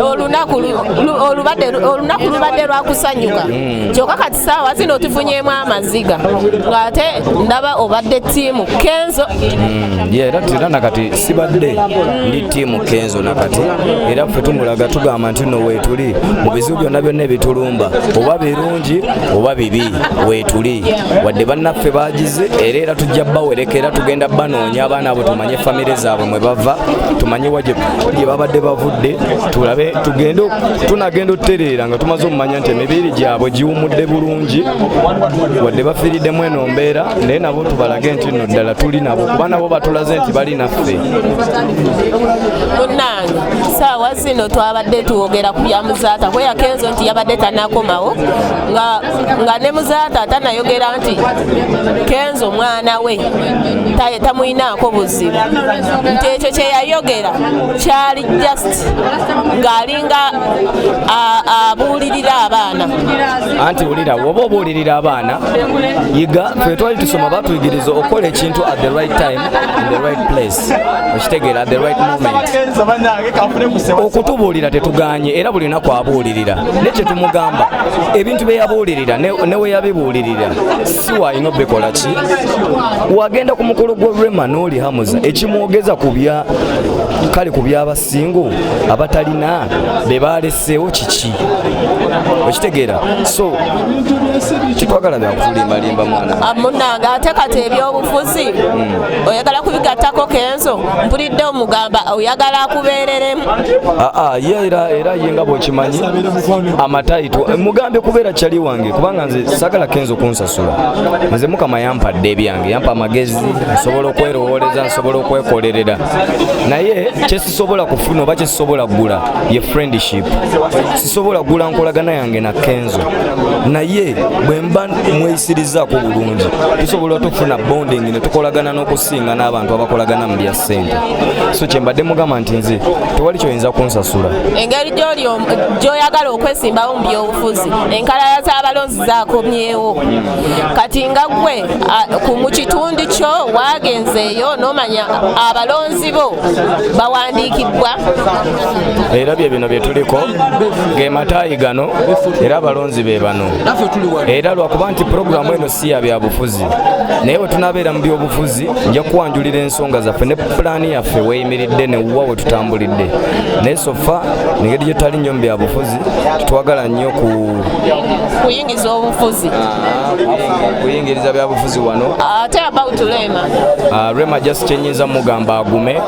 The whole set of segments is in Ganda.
olunaku lubadde lwakusanyuka hmm. kyoka kati saawa zino tufunyemu amaziga ngaate ndaba obadde tiimu kenzo hmm. era tira nakati sibadde ndi tiimu kenzo nakati era ffe tumulaga tugamba nti no wetuli byonna byonna ebitulumba oba birungi oba bibi weetuli wadde bannaffe bagize era era tujja bawereka era tugenda banoonya abaana abo tumanye famire zaabwe mwe bava tumanye wagye babadde bavudde tulabe tugende tunagenda otutereera nga tumaze okumanya nti emibiri gyabwe giwumudde bulungi wadde bafiiriddemu eno mbeera naye nabo tubalage nti no ddala tuli nabo kuba nabo batulaze nti bali naffe saawa zino twabadde twogera ku bya muzaata kweya kenzo nti yabadde tanakomawo nga ne muzaata tanayogera nti kenzo mwana we tamuyinaako buzibu nti ekyo kyeyayogera kyali just ng'alinga abuulirira abaana anti wulira woba obuulirira abaana yiga fetwali tusoma batuyigiriza okukola ekintu at the right time in the right place okitegeera the right moment okutubuulira tetuganye era buli lunaku abuulirira ne kyetumugamba ebintu byeyabuulirira neweyabibuulirira si walina obikola ki wagenda ku mukolo gwa rema n'oli hamuza ekimwogeza kubya kale ku byabas singo abatalina be baleseewo kiki okitegeera so tetwagala byakutulimbalimba mwana ah, munange ate kati ebyobufuzi hmm. oyagala kubigattako kenzo mpulidde omugamba oyagala akubeereremu aa ah, ah, ye era era ye nga bwekimanyi amataito eh, mugambye kubeera kyali wange kubanga nze sagala kenzo kunsasula nze mukama yampadde ebyange yampa amagezi nsobola okwerowooleza nsobola okwekolerera naye kyesisobola kufuna oba kyesisobola kugula ye friendship sisobola kugula nkolagana yange na kenzo naye bwemba mweyisirizako bulungi tusobola tufuna bonding netukolagana n'okusinga n'abantu abakolagana mu lya sente so kyembadde mugamba nti nze tewali kyoyinza kunsasula engeri gyoyagala okwesimbawo mu byobufuzi enkalala z'abalonzi zakomyewo kati nga gwe mu kitundu kyo waagenzeeyo n'omanya abalonzi bo bawandiikibbwa era bye bino bye tuliko ge mataayi gano era abalonzi be bano era lwakuba nti pulogulaamu eno si ya byabufuzi naye bwe tunaabeera mu byobufuzi nja kuwanjulira ensonga zaffe ne pulaani yaffe weyimiridde newuwa we tutambulidde naye sofa engeri gye tutali nnyo mu byabufuzi tetwagala nnyo ku kuyingiza obufuzi kuyingiriza byabufuzi wano ate about rema ah, rema just kyenyinza mugamba agume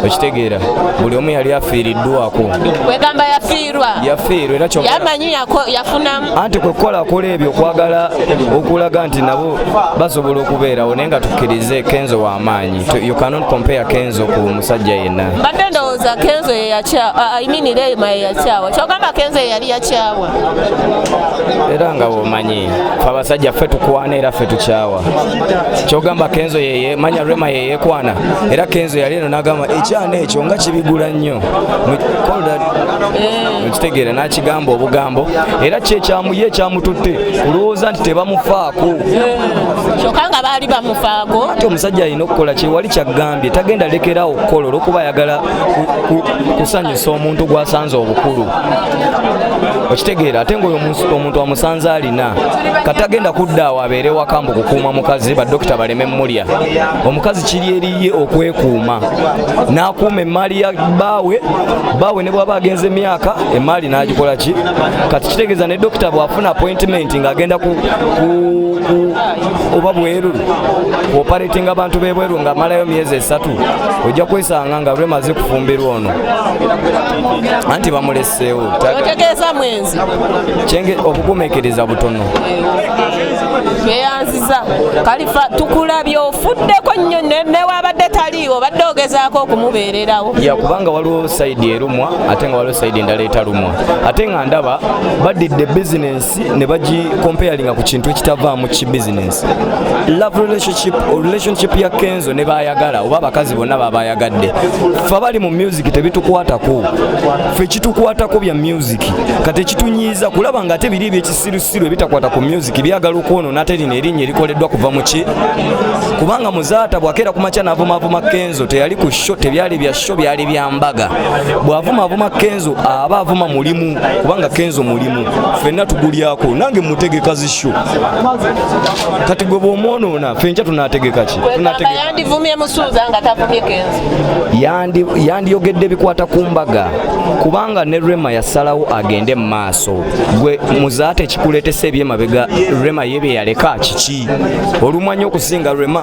okitegeera buli omu yali afiiriddwako wegamba yafiirwa yafiirwa era yamanyi yafunamu anti kwekukola akola ebyo okwagala okulaga nti nabo basobola okubeerawo naye nga tukkirize kenzo wamaanyi you cannot compare kenzo ku musajja yenna mbadde ndowooza kenzo yeyakyawa ah, i mean rema yeyakyawa kyogamba kenzo yeyali yakyawa era nga bwomanyi fe abasajja ffe tukwana era ffe tukyawa kyogamba kenzo yeye manya rema yeyekwana era kenzo yali eno nagamba ekyana ekyo nga kibigula nnyo mukitegeera eh. nakigamba obugambo era kyekyamuye ekyamututte kulowooza nti tebamufaako eh. kyokka nga baali bamufaako ate omusajja alina okukola kyewali kyagambye tagenda lekerawo okukola olwokuba ayagala kusanyusa omuntu gwasanze obukulu okitegeera ate ngaoyo omuntu amusanze alina katagenda kudda awo abeere waka mbu kukuuma mukazi badokita baleme mulya omukazi kiri eriye okwekuuma n'akuuma emmaali ya baawe baawe ne bwaba agenze emyaka emmaali n'agikola ki kati kitegeeza ne dokita bw'afuna appointment ng'agenda ku oba bweru operating abantu bebweru nga malayo myezi esatu ojja kwesanga nga lwemaze kufumbirwa ono anti bamuleseewo otegeeza mwenzi kyenge okugumekereza butono tweyanziza kalifa tukulabye ofuddeko nnyo newabadde taliiwo badde ogezaako okumubeererawo yakubanga waliwo saidi erumwa ate nga waliwo saidi endala etalumwa ate nga ndaba badidde business ne bagikompeyalinga ku kintu ekitavaamu ki bizinesi love relationship relationship ya kenzo ne baayagala oba abakazi bonna babayagadde fe abali mu music tebitukwatako fe kitukwatako bya music kati ekitunyiiza kulaba nga ate biri ebyekisirusiru ebitakwata ku music byagala okwonona ate lino erinnya erikoleddwa kuva mu ki kubanga muzaata bwakeera ku makya naavumaavuma kenzo teyali ku sho tebyali bya sho byali bya mbaga bw'avumaavuma kenzo aba avuma mulimu kubanga kenzo mulimu fenna tugulyako nange mutegeka zisho kati gwe bwomwonoona fenca tunategeka ki yandiyogedde ebikwata ku mbaga kubanga ne rema yasalawo agende mu maaso gwe muzaate ekikuleetesa ebyemabega rema ye bye yaleka kiki olumanya okusinga rema